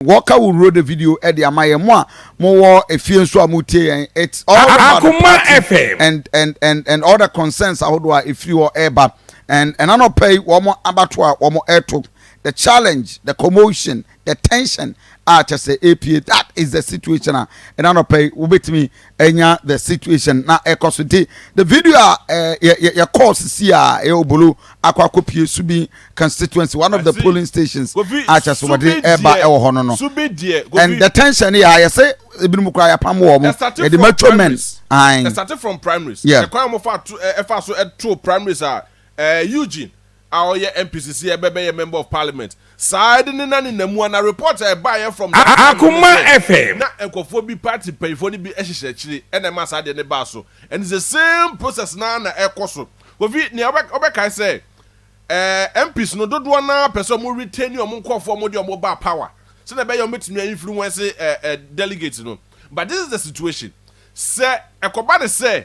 Wɔka wo wuro de video de ama yɛn mo a mo wɔ efie nso a mo tie yɛn it's all about the party and and and and all the concerns ahodoɔ a efiri hɔ ɛreba and ɛna nɔpɛ yi wɔn abato a wɔn ɛreto the challenge the commotion the tension a kyɛ sɛ epie that is the situation a ɛna nɔpɛ yi wobɛtumi ɛnya the situation na ɛkɔ so nti the video a yɛkɔɔ sisi a ɛyɛ obolo akɔ akɔpie subi constituency one of the polling stations akyɛ so wɔde ɛba ɛwɔ hɔ no no and the tension yɛ ayɛ sɛ ebinom koraa yɛapam wɔ mo yɛde mature men ɛsate from primaries ɛkwan a wɔfa so ɛtoo primaries a eugene a ɔyɛ MP sisi a ɛbɛ bɛyɛ member of parliament saa ɛde ne na ne na mu a na report a ɛbaeɛ from that time no ne sɛ na nkurɔfoɔ bi party mpanyinfoɔ no bi hyehyɛ akyire ɛna ɛma saa adeɛ no baa so and it's the same process no ara na ɛkɔ so Kofi nea ɔbɛkae sɛ ɛɛ MPs no dodoɔ no ara pɛ sɛ wɔn retain wɔn nkurɔfoɔ wɔn de wɔn baa power sɛdeɛ ɛbɛyɛ wɔn bɛtumi a influence ɛɛ delegate no but this is the situation sɛ ɛkɔba ne sɛ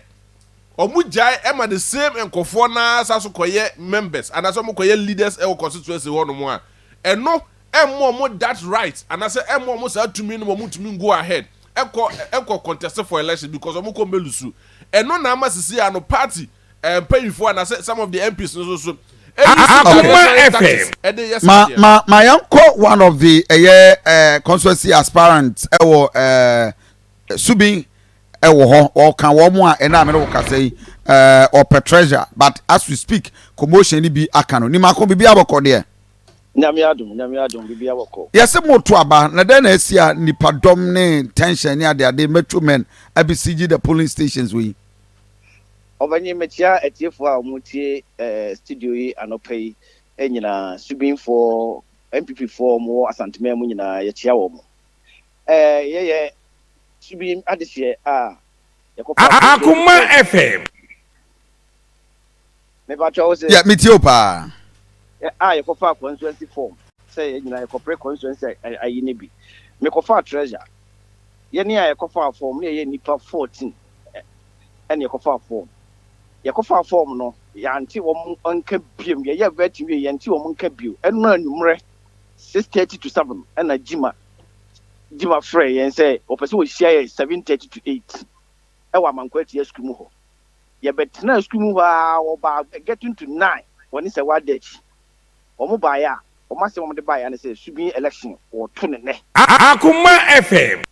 ɔmo gyae ɛma the same nkɔfoɔ no ara sa so kɔyɛ members anaasɛ ɔmo kɔyɛ leaders ɛwɔ constituency hɔ nom a, ɛno ɛmma ɔmo that right anaasɛ ɛmma ɔmo saa tumi no ma ɔmo ntumi go ahead ɛkɔ ɛkɔ contest for election because ɔmo kɔ mbɛ lusu. Ɛno na ama sisi ano party ɛɛ mpanyinfoɔ anaasɛ some of the MPs no nso so ɛuse unnecessary tactics ɛde yɛ saa adeɛ no. Ma ma yɛn kɔ one of the ɛyɛ ɛɛ constituency aspirant ɛwɔ ɛɛ Subin wɔ hɔ wɔka wɔn a ɛna a mene wo kasa yi uh, ɔpɛ treasure but as we speak commotion no bi aka no nimako biribi abɔkɔ deɛ nyame adom nyame adom biribi abɔkɔ yɛse moto aba na dɛn na asi a nipa dɔm ne tension ne adeade mature men abisigi the polling stations wɔ yi ɔbɛnye mekyia atiefoɔ a wɔtie eh, studio yi anɔpa yi eh, nyinaa subinfoɔ mpp foɔ wɔwɔ asanteman mu nyinaa yɛkyia wɔ mo Akoma FM. Yeah, me tio pa. Ah, yɛ kɔfa constituency form. Sɛ yɛ nyina yɛ kɔpere constituency ayi ne bi. Me kɔfa treasure. Yɛ ne a yɛ kɔfa form ne yɛ nipa 14. Ɛne yɛ kɔfa form. Yɛ kɔfa form no, yɛ ante wɔn nka biam. Yɛ yɛ vetting wie yɛ ante wɔn nka bio. Ɛno anumere 6:30 to 7 ɛna gyima. di ma frɛɛ yɛn sɛ wɔpɛ sɛ wɔhyia yɛn 7:30 to 8 wɔ Amankwa Atia Sukuu mu hɔ. Yɛbɛtenaa sukuu mu hɔ ara, wɔbaa getting to 9 wɔ ne sɛ wɔada akyi. Wɔbaeɛ a, wɔn asɛm a wɔde baeɛ ara ne sɛ Subin election, wɔreto no nnɛ. Akoma FM.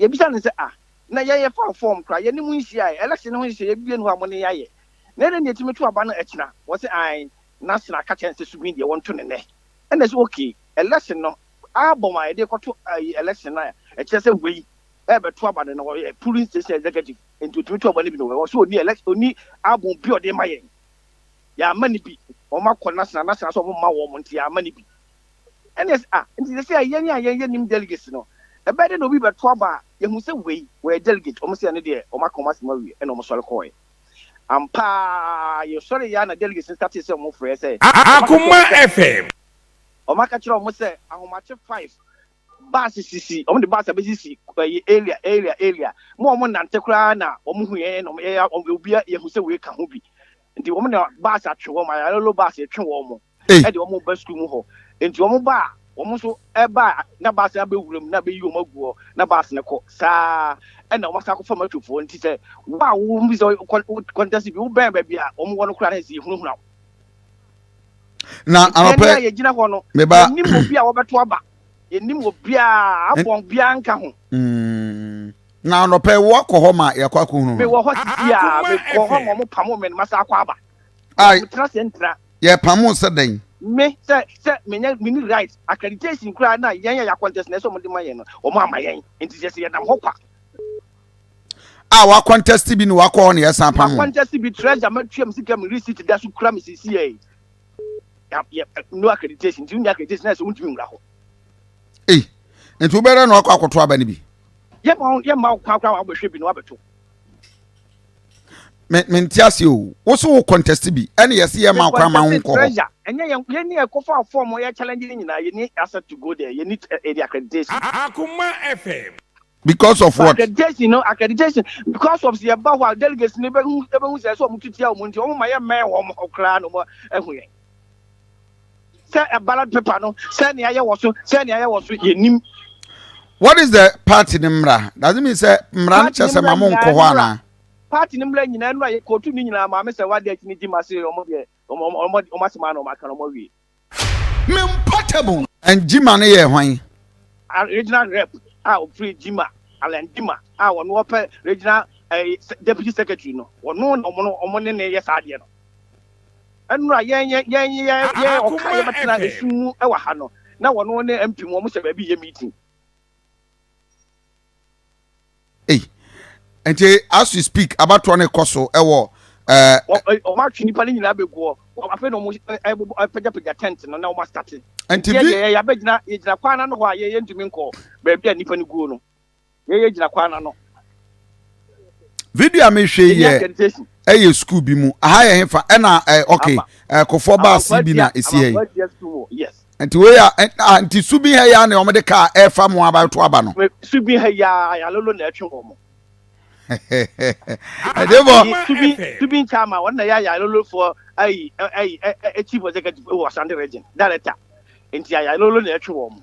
Yɛbisaa no sɛ, Ah, na yɛn yɛfaa form koraa, yɛne mo nhyiaeɛ, election no ho nhyehyɛeɛ biara nni hɔ a mo ne yɛn ayɛ. Na ɛdɛn na yɛtumi to aba no akyina? Wɔse, Ae, na Sena ka kyerɛɛ no sɛ Subin deɛ wɔnto no nnɛ. Ɛnna yɛse, Okay, election no, Album a yɛde rekɔto ayi election no a ɛkyerɛ sɛ wei rebɛto aba no, na ɔyɛ polling station executive, nti otumi to aba no bi no. Ɔwɔ so ɔni elect ɔni album bi a ɔde ma yɛn. Yɛama no bi. Wɔn akɔ national, national sɛ wɔn mma wɔn nti yɛama no bi. Ɛne ɛsɛ ah nti sɛ sɛ yɛn a yɛn yɛ nim delegates no, ɛbɛyɛ dɛ na obi bɛto aba a yɛhu sɛ wei wɔyɛ delegate. Wɔn sɛ ɛne deɛ wɔn aka wɔn asɛm awie ɛna wɔn sɔre kɔɔɛ. Ampa ara yɛsɔre yɛ a na delegates no startee sɛ wɔn frɛ sɛ. Akoma FM. Wɔaka kyerɛ wɔn sɛ ahomakye five bus sisi wɔn de bus abɛsisi ɛyi area area area mu a wɔn nante koraa na wɔn hu yɛn na wɔn yɛyɛ wɔn obi a yɛhu sɛ wei ka ho bi nti wɔn na bus atwe wɔn ayalolo bus atwe wɔn mo ɛde wɔn ba sukuu mu hɔ nti wɔn ba a wɔn nso ɛba a na bus no abɛwura mu na abɛyi wɔn agu hɔ na bus no kɔ saa ɛna wɔn asa akɔfa matufoɔ nti sɛ wo a wɔn bi sɛ kɔntɛsi bi wobɛn baabi a wɔn wɔ no koraa na ɛsɛ yɛhunahuna wo. na anɔpɛ a yɛgyina hɔ no yɛnim obi a wɔbɛto aba yɛnim obiaa abɔn biaa nka ho mm. na anɔpɛ woakɔ hɔ ma yɛakɔ akɔhunu no mewɔ hɔ sesia mekɔ hɔ ma ɔmo pamo me no masa akɔ aba metena sɛ ntra yɛpamo sɛ dɛn me sɛ sɛ menyɛ meni right accreditation koraa na yɛn a yɛakɔntɛs na ɛsɛ ɔmo de ma yɛn no ɔmo ama yɛn nti sɛ sɛ yɛnam hɔ kwa a wakɔntɛste bi na wakɔ hɔ na yɛsan pam wɔn. makɔntɛste bi treasure matua mu sika mu receipt da so kura me sisi yɛ yɛ no accreditation nti wonya accreditation na ɛsɛ wontumi nwura hɔ. ei nti wobɛrɛ na wakɔ akɔto aba no bi. yɛma yɛma wo kwan koraa wabɛhwɛ bi na wabɛto. me me nte ase o wo so wo contest bi ɛna yɛsi yɛ ma kwan ma ho nkɔ hɔ. ɛnyɛ yɛn yɛn ni ɛkɔ fa fɔm yɛ challenge ne nyinaa yɛn ni asset to go there yɛn ni ɛdi accreditation. akoma fm. because of what. accreditation no accreditation because of sɛ yɛba hɔ a delegates no bɛhu bɛhu sɛ ɛsɛ wɔn tutia wɔn nti wɔn ma yɛ mmɛn wɔn hɔ koraa na wɔn ahu yɛn sɛ ballot paper no sɛ nea yɛ wɔ so sɛ nea yɛ wɔ so yɛ nim. what is the party ne mmara does it mean sɛ mmara no kyɛ sɛ ma mo nkɔ hɔ anaa. party ne mmara nyinaa nnura yɛ kootu ne nyinaa maame sɛ wadi akyi ne gyima se wɔn deɛ wɔn wɔn wɔn asɛm ano wɔn aka wɔn awie. Me portable. And Jima no yɛ hwan? Regional Rep a ɔfiri Jima, Alan Jima a ɔno ɔpɛ Regional ɛɛ Deputy Secretary no, ɔno na wɔn no wɔn ne no reyɛ saa adeɛ no. Ɛnora yɛn yɛn yɛn yɛ yɛ ɔka yɛbɛtena esum mu ɛwɔ ha no na wɔn ne MP mu wɔn hyɛ baabi yɛ meeting. Hey. nti as we speak abatoɔ no kɔ so ɛwɔ eh, wɔn atwe nipa no nyinaa bɛgu hɔ afei na wɔn eh, eh, pagyapagya tent no na wɔn astate nti yɛ yɛ yɛabɛgyina yɛgyina kwan no hɔ a yɛ yɛntumi nkɔ baabi a nipa no guo no yɛ yɛgyina kwan no ano video a mehwɛ yɛ ɛyɛ school bi mu aha yɛ hefa ɛna eh, ok eh, kofoɔ baase bi na ɛsi ha yi Nti wei a, ah, nti su bi ha yi ara na wɔde kaa a ɛrefa mo aba to aba no. Me su bi ha yi ara ayalolo na ɛtwe wɔn. Ɛdebɔ. Nti su bi su bi nkyɛn ama wɔn na yɛ ayalolo foɔ ayi ayi chief executive wɔ Asante region director. Nti ayalolo na ɛtwe wɔn.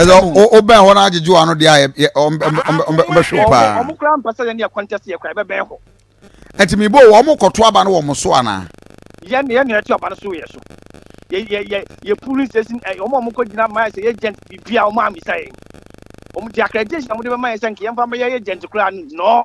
ɛsɛ wobɛn hɔ no agyegye w'ano deɛ a ɔmbɛhwe wo paa ɔmo koraa mpa sɛ yɛne ɛkɔntɛs yɛ koraa ɛbɛbɛn hɔ ɛti mebɔ wɔ ɔmo kɔto aba no wɔ mo so anaa yɛn yɛn na yɛto aba no so yɛ so yɛ yɛ yɛ yɛ pulling station ɛ ɔmo a ɔmo kɔ gyina mayɛ sɛ yɛ agent bibi a ɔmo amisa yɛn ɔmo de accreditation a ɔmo de bɛma yɛn sɛ nka yɛn fa bɛyɛ agent koraa no nɔɔ.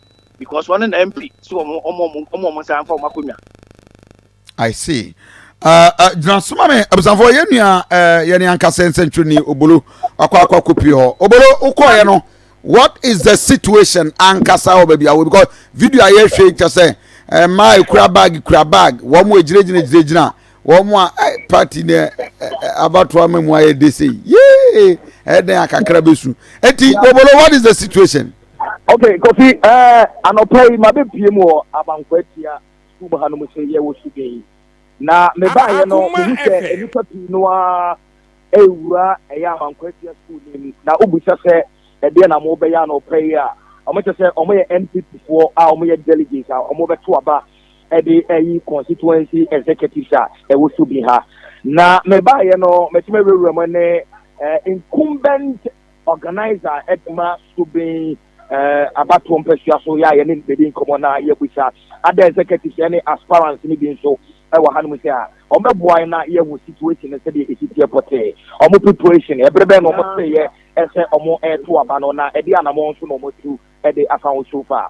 because wɔn na mp si wɔn wɔn wɔn wɔn nsa nfa wɔn akonnwa. i see gyina uh, uh, soma me abusanfoɔ yɛn nua uh, yɛne ankasa nsɛntwerɛni obolo wakɔ akɔ akɔpie hɔ obolo wokɔɔyɛ no what is the situation ankasa wɔ baabi awɔ because video a yɛhwɛ kyɛ sɛ mmaa ekura bag kura bag wɔn mu egyinagyina gyinagyina wɔn a eh, party ne eh, eh, abatoa ma mu ayɛ de sei yee ɛdɛn akakra bɛsu eti obolo what is the situation. ok kofi ɛɛ eh, anɔpa yi ma bɛ pie mu wɔ abankwa atia sukuu mu ha no mu sɛ yɛ wɔ sudɛ yi na me ba yɛ no me hu sɛ nnipa pii no a ɛwura ɛyɛ abankwa atia sukuu nim na wobisa sɛ ɛdeɛ na mo bɛyɛ anɔpa yi a wɔn kyɛ sɛ wɔn yɛ npp foɔ a wɔn yɛ delegates a wɔn bɛto aba ɛde ɛyi constituency executives a ɛwɔ so bi ha na me ba yɛ no mɛtumi awurawura mu ne eh, incumbent Organiser a ɛde ma Sukuu Ben abatoɔ mpasua so yɛ a yɛne no bɛdi nkɔmmɔ na yɛabisa ada executives ne aspirants no bi nso wɔ hanom sɛ a wɔbɛboa yɛn na yɛahu situation no sɛdeɛ ɛsi teɛ pɔtee, wɔn preparation, ɛberɛ bɛn na wɔteeɛ sɛ wɔreto aba no na ɛdeɛ anamɔn nso na wɔatu de afa ho so far.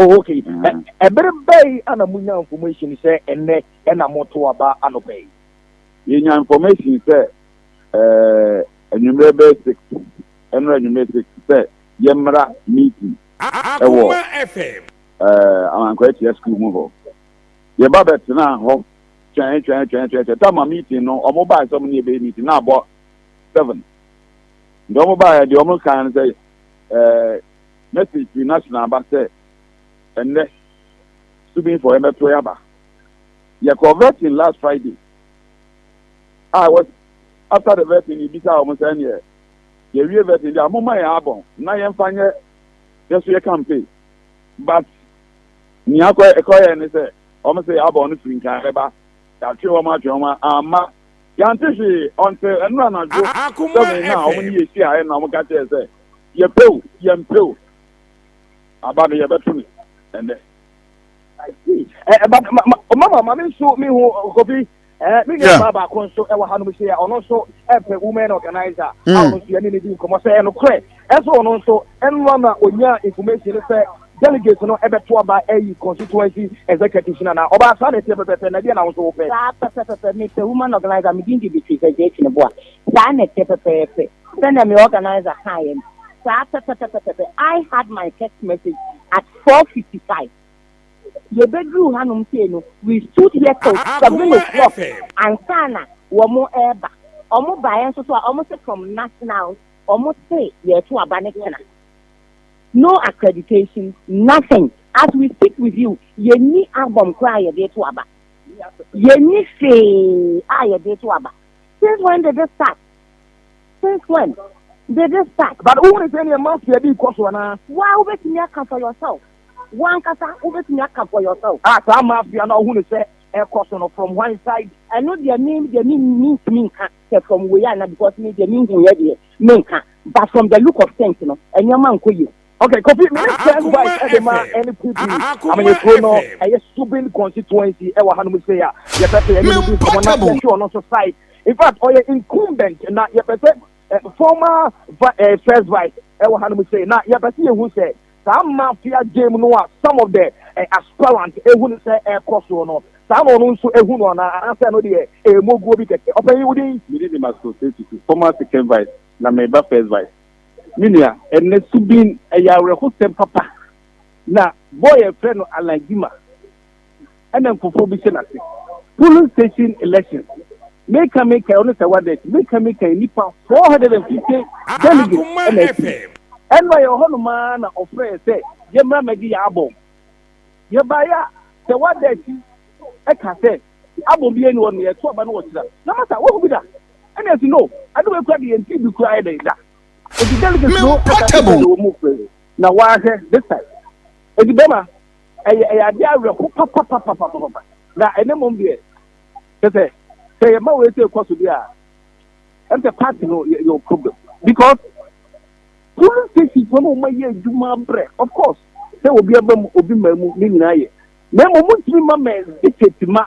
Oh, okay. Mm. Ɛbere bɛyi ana munya information sɛ ɛnɛ ɛna moto aba anɔpa yi? Yɛnya information sɛ ɛɛ anwummerɛ bɛyɛ six ɛnora anwummerɛ six sɛ yɛmmra meeting ɛwɔ ɛɛ Amankwaa Atua school mu hɔ. Yɛba bɛtenaa hɔ twɛn twɛn twɛn twɛn twɛn tama meeting no wɔn baa sɛ wɔn ne yɛbɛyɛ meeting na abɔ seven. Nti wɔn baa yɛ deɛ wɔn kan no sɛ ɛɛ. Message firi National aba sɛ ɛnnɛ Subin Forɛ mɛtoe aba. Yɛkɔɔ vetting last Friday a ɛwɔ after the vetting no yɛbisaa wɔn sɛ ɛneɛ yɛwie vetting deɛ a momma yɛn abɔn na yɛmfa nyɛ yɛso yɛ campaign but nea ɛkɔeɛ ne sɛ wɔn se yɛn abɔn no firi nkan bɛba yɛatwe wɔn atwe wɔn amma Yɛante hwee until ɛnnora anadwo seven no a wɔn ne yɛ hyiaɛ na wɔn ka kyerɛɛ sɛ yɛpɛ o yɛmpɛ o aba no yɛbɛto no ɛnnɛ. I see. Eh, but ma, ma, oh, mama, ma me nso me hu oh, Kofi. Eh, me nua baa baako nso ɛwɔ hanom hyɛ a ɔno nso ɛpɛ women organizer. Mm. A ɔno nso yɛne ne di nkɔmmɔ sɛ ɛnokorɛ Ɛso ɔno nso, ɛnoa na onyaa information no sɛ delegates no ɛbɛto aba ayi constituency executives no anaa? Ɔbaa saa na ɛteɛ pɛpɛpɛ, na ɛdeɛn na wo nso wopɛ? Saa pɛpɛpɛpɛ, mepɛ woman organiser, me din de Beatrice Agyei Kyiniboa, saa na ɛteɛ pɛpɛpɛ, sɛdeɛ me organiser kaeɛ no, saa pɛpɛpɛpɛpɛ, I had my text message at four fifty five, yɛbɛduruu hanom sei no, we stood here till seven o'clock ansa na wɔn ɛreba, wɔn baeɛ nso so a, wɔn se from national. Wɔn se yɛreto aba ne kyena. No accreditation, nothing. As we speak with you, yɛnni album koraa a yɛde reto aba. Yɛnni hwee a yɛde reto aba. Since when did this start? Since when did this start? But wohu ne sɛdeɛ mafia bi rekɔ so anaa? Woaa wobɛtumi aka for yourself. Wo ankasa wobɛtumi aka for yourself. Ah, saa mafia no a wohu no sɛ ɛrekɔ so no, from whenside? Ɛno deɛ me deɛ mentumi nka. pɛ from wei ana because me deɛ me nhuiɛ deɛ me nka but from the look of things no nneɛma nkɔ yie. Okay Kofi, me ne First Vice de ma ɛne Kudi Amanyɔkuo no ɛyɛ Subin Constituency ɛwɔ hanom sei a yɛpɛ sɛ yɛne no di nkɔmmɔ na yɛhwɛ ɔno nso side. In fact ɔyɛ incumbent na yɛpɛ sɛ former First Vice ɛwɔ hanom sei na yɛpɛ sɛ yɛhu sɛ Saa mafia game no a some of the aspirant ehu no sɛ ɛrekɔ so no, saa na ɔno nso ehu no anaa? Anaasɛ ɛno deɛ ɛyɛ moguo bi kɛkɛ? Ɔpanyin, wo din? Me din de Max Osei-Tutu, former second vice, na mereba first vice. Me nua, ɛnnɛ Subin, ɛyɛ awerɛhosɛm papa. Na boy a yɛfrɛ no Alan Gyimah. ɛna nkurɔfoɔ bi hyɛ n'ase. Polling station elections, meka meka ɔno sɛ wada akyi, meka meka yi nnipa 450 delegates ɛna akyi. Ɛno a yɛwɔ hɔ nom ara na ɔfrɛ yɛ sɛ yɛmmra mmɛgye yɛ abɔm. Yɛbaeɛ a sɛ wada akyi ɛka sɛ abɔm biara ni hɔ nom, yɛto aba no wɔ kyerɛ na ma sa woahu bi da? Ɛna yɛsi no, ade wei koraa deɛ yɛntee bi koraa yɛ dɛn da. Enti delegates no ɛka sɛ sɛ yɛwɔ mu frɛ na woahwɛ this time. Enti bɛma. Ɛyɛ, ɛyɛ adeɛ awerɛho papapapapapa. Na ɛnnɛ mmom deɛ, kyerɛ sɛ, sɛ yɛma wei sei kɔ so deɛ a, ɛne sɛ party no yɛ, yɛwɔ problem. Because polling stations no na wɔayɛ adwuma abrɛ. Of course, sɛ obi aba mu, obi mmaa mu, ne nyinaa yɛ. Na mmom, montumi mma mɛndikate mma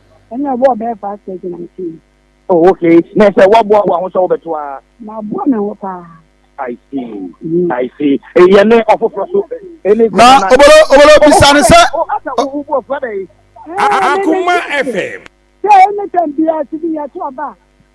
ɛna ɛbɔɔ bɛyɛ five thirty na nti. oh okay na sɛ waboa boa ho sɛ wobɛto a. maboa me ho paa. I see. Mm. I see. Yẹn ní ọ̀fọ̀fọ̀ so. Na obolo obolo bisa ni sẹ. Akuma FM. Sẹ ẹni tẹ̀ bi a ti bi yẹ tó ọba.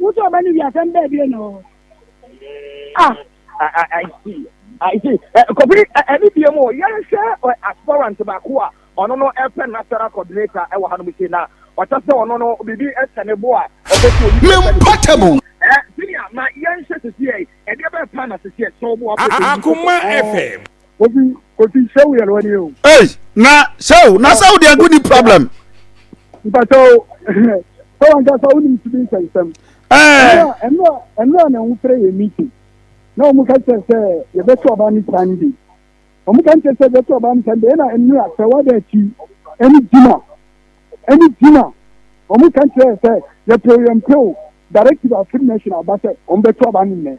Wotɔ ɔba no wi asɛm bɛɛ bie na ɔwɔ hɔ. Ah, I, I, I see. I see. Eh, Kofi, eh, ɛne eh, bie mu, yɛnhwɛ eh, aspirant baako a ɔno no ɛpɛ eh, national coordinator ɛwɔ eh, ha no mu sei na ɔkyɛ sɛ ɔno no biribi ɛhyɛ ne bo a ɔpɛ sɛ obi bɛhyɛ ne portable. Eh, senior, ma yɛnhwɛ sisi ɛ, ɛdeɛ bɛɛ pa na sisi ɛ, sɛ ɔbo apɛ sɛ obi. Akoma FM. Kofi Kofi Shehu yɛ lɔni o. Ee na Shehu na Shehu deɛ nko ni problem. Mpatɔ o sɛ wɔn kasa wɔn nim sibi nsɛnsɛm. Ɛɛ ɛnu a ɛnu a na wɔn fere yɛ meeting na wɔn ka kyerɛ sɛ yɛbɛto ɔbaa ne Sunday wɔn ka kyerɛ sɛ yɛbɛto ɔbaa ne Sunday ɛna ɛnu a sɛ wɔada akyi ɛne gyina ɛne gyina wɔn ka kyerɛ sɛ yɛpɛw yɛn pɛw directive afiri nation aba sɛ wɔn bɛto ɔbaa ne nnɛ.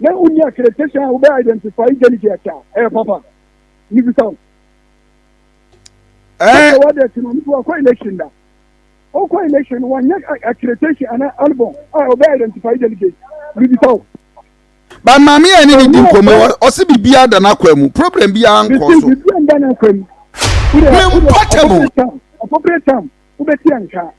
na wonni accreditation a wobɛ identify delegate a, ɛyɛ papa. Mebisa wo. Ɛɛ. Sɛ wɔde ti no, nso wakɔ election da. Ɔkɔ election no, wɔnyɛ accreditation ana album a wɔbɛ identify delegate. Mebisa wo. Ba maame yɛn ne ne di nkɔmɔ ɔsi bibi ada n'akwa mu problem bi ara nkɔ so. Bibi ada n'akwa mu. Mempɔtɛbo. Appropriate time wobɛti anka.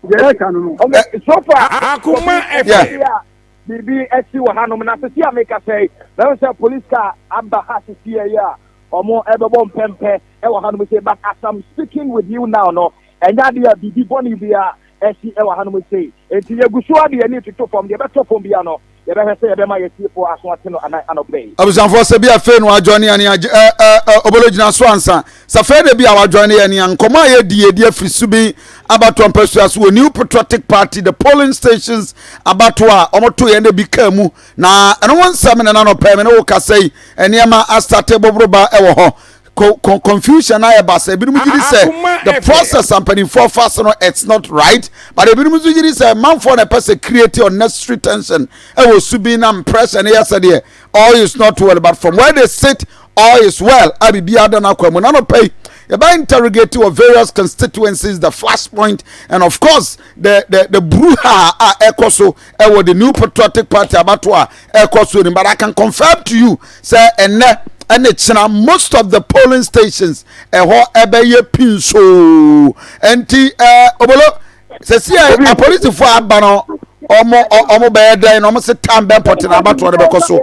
yɛreka no no ɔmo so far akoma ɛfɛ a biribi ɛsi wɔ hanom na sisi a meka sɛ mɛhu sɛ police car aba ha sisi yɛ a ɔmo ɛbɛbɔ mpɛmpɛ ɛwɔ hanom sei but as I'm speaking with you now no ɛnyɛ adeɛ a biribi bɔne bi a ɛsi ɛwɔ hanom sei enti yɛgu so a deɛ ani toto fam deɛ ɛbɛtɔ fam bia no Yɛbɛhwɛ sɛ yɛbɛma yɛn atiefo aso ate no anan anɔpa yi. Abusuafoɔ sɛ bi a fei no wajoine yɛn a ɛ ɛ ɛ obolo gyina so ansa sɛ fei na bi a wajoine yɛn a nkɔmɔ a yɛdi yɛdi afiri subin abatoɔ mpasua so wɔ new patriotic party the polling stations abatoɔ a wɔn to yɛn na bi kaa mu na ɛno ho nsɛm na nanɔpɛ me ne wo kasa yi nneɛma astate boboroba ɛwɔ hɔ confusion ayɛ ba sɛ ebinom gyiri sɛ the process a mpanimfoɔ fa so no it's not right but ebinom nso gyiri sɛ manfoɔ na ɛpɛ sɛ create unnecessary tension ɛwɔ su bi na pressure no yɛ sɛ deɛ all is not well but from where they sit all is well a biribi ada no akwa mu na no pɛ yi yɛbɛ interrogate wɔ various constituencies the flashpoint and of course the the the bruha a ɛkɔ so ɛwɔ the new patriotic party abato a ɛkɔ so ni but i can confirm to you sɛ ɛnɛ ɛne kyena most of the polling stations ɛhɔ ɛbɛyɛ pinsoo nti ɛɛ obolo sɛsi ɛ apolisifoɔ aba no ɔmo ɔ- ɔmo bɛyɛ dɛn na ɔmo se tan bɛn pɔtɛ na abatoɔ no bɛkɔ so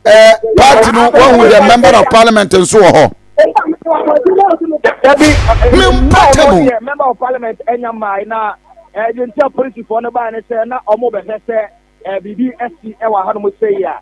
ɛɛ party no wɔn yɛ member of parliament nso wɔ hɔ. dabi Me mpata mu. wɔn yɛ member of parliament ɛnya mmaa na ɛɛ yɛn ti a polisifoɔ no baa ne sɛ na wɔn bɛhwɛ sɛ ɛɛ biribi ɛsi ɛwɔ ha nom sɛ yia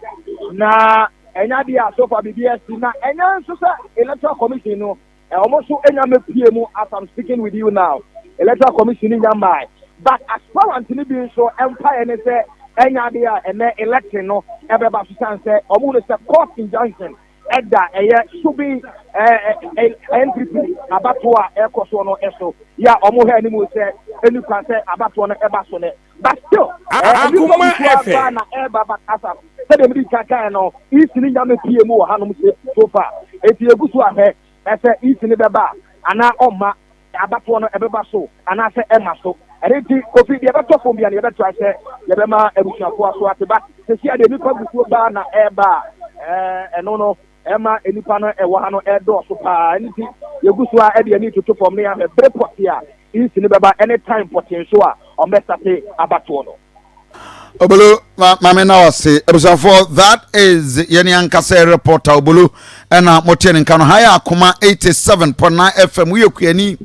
na ɛnya deɛ a so far biribi ɛsi na ɛnya nso sɛ electoral commission no Wɔn nso nya mɛpue mu as I'm speaking with you now. Electoral Commission ni nya mmae. But aspirant ni bi nso mpaeɛ ne sɛ ɛnyɛ adeɛ a ɛnɛ election no ɛbɛba so san sɛ wɔn hu no sɛ court injunction ɛda ɛyɛ sobi ɛɛ NPP abatoɔ a ɛkɔ soɔ no ɛso yɛ a wɔn hwɛ anim sɛ ɛni kwan sɛ abatoɔ no ɛba so nɛ. But still, akoma ɛfɛ. Na ɛba ba kasa. Sɛdeɛ mede ka kan no, isi ne nyame pie mu wɔ hanom se so far. Eti egu so ahwɛ ɛsɛ isi ne bɛba anaa ɔmma. Abatoɔ no ɛbɛba so anaasɛ ɛmma so. Ɛno nti Kofi deɛ ɛbɛtɔ fam bia no yɛbɛtrae sɛ yɛbɛma abusuafoɔ so ate. But sesia deɛ nipa gusuo baa na ɛba a ɛɛ ɛno no Ɛma nnipa no ɛwɔ ha no ɛredɔɔso paa, ɛno nti yɛgu so ara de yɛn ani retoto fam na yɛahwɛ bere pɔtee a East no bɛba ne time pɔtee nso a wɔbɛstate abatoɔ no. Obolo ma maame na wase abusuafoɔ that is yɛne ankasa reporter Obolo ɛna moteɛ ne nka no ha yɛ akoma 87.9 FM woyɛ kuani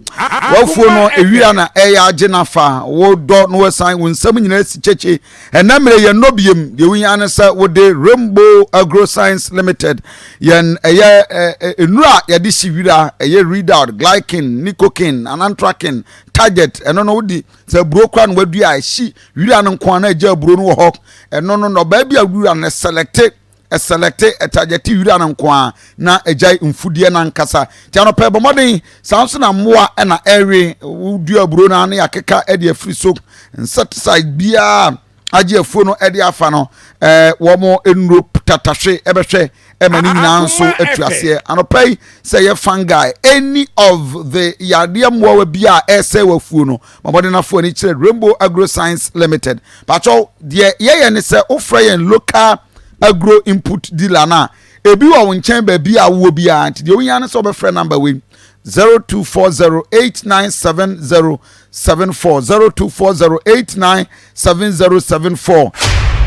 wafuo no ewia na ɛyɛ agye na fa wodɔ no wasan wo nsɛm nyinaa si kyekye Ɛnnɛ mmerɛ yɛn nnɔ biem, deɛ wo hia ne sɛ wo de Rainbow Agro Science Limited yɛn ɛyɛ nnuro a yɛde hye wira ɛyɛ Redout, Glykin, Nicokin, Anantrakin, Target ɛno no wode sɛ aburo kora no wadua a ɛhye wira no nko a na agya aburo no wɔ hɔ ɛno no nnɔbaa bi a wura no selɛte ɛsɛlɛkte ɛtagyɛte wira no nko ara na ɛgyae mfudeɛ no ankasa. Nti anɔpa ɛbɔ mmɔden saa nso na mmoa na ɛrewe wodua aburo no na yɛakeka de afiri so. Insecticide biara agye afuo no de afa no eh, wɔn nnuro tatahwe ɛbɛhwɛ ɛma ne nyinaa nso atu aseɛ. Anɔpa yi sɛ yɛ fungi any of the yadeɛ mmoawa bi a ɛresɛ wɔ afuo no ma mmɔden afoɔ ani kyerɛ Rainbow Agro Science Limited. Pakyɛw deɛ yɛyɛ ne sɛ wofrɛ yɛn local agro input dealer no a ebi wɔ wo nkyɛn baabi a wowɔ biara nti deɛ wohia no sɛ wobɛfrɛ namba wei 0240897074 0240897074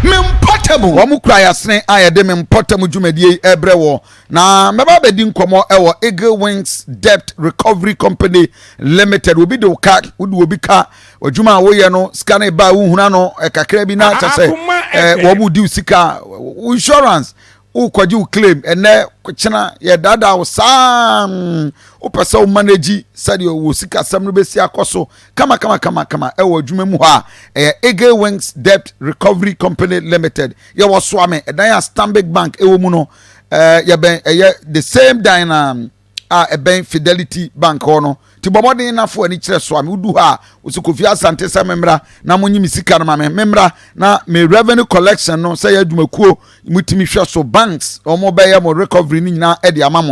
mempɔtamu wɔn kura yasene a yɛde mempɔtamu dwumadie yi ɛbrɛ wɔ na mɛba abɛdi nkɔmɔ ɛwɔ eagle wings debt recovery company limited obi de wo ka wode obi ka Adwuma a woyɛ no sika no ba a wohuna no kakra bi na kyɛ sɛ wɔn mu di sika insurance wokɔgye wo claim ɛnɛ kyena yɛdaadaa wo saa wopɛ sɛ wo manage sɛdeɛ wɔ sikasɛm no bɛsi akɔ so kama kama kama kama ɛwɔ adwuma mu hɔ a ɛyɛ eagle wings debt recovery company limited yɛwɔ soame ɛdan a stanbic bank ɛwɔ mu no yɛbɛn ɛyɛ the same dan na a ɛbɛn Fidelity Bank hɔ no ti bɔ mmɔden na fo ani kyerɛ so a medu hɔ a wɔsi Kofi Asante sɛ memmra na monyi me sika no ma me memmra na me revenue collection no sɛ yɛ adwumakuo motumi hwɛ so banks wɔn bɛyɛ mo recovery no nyinaa de ama mo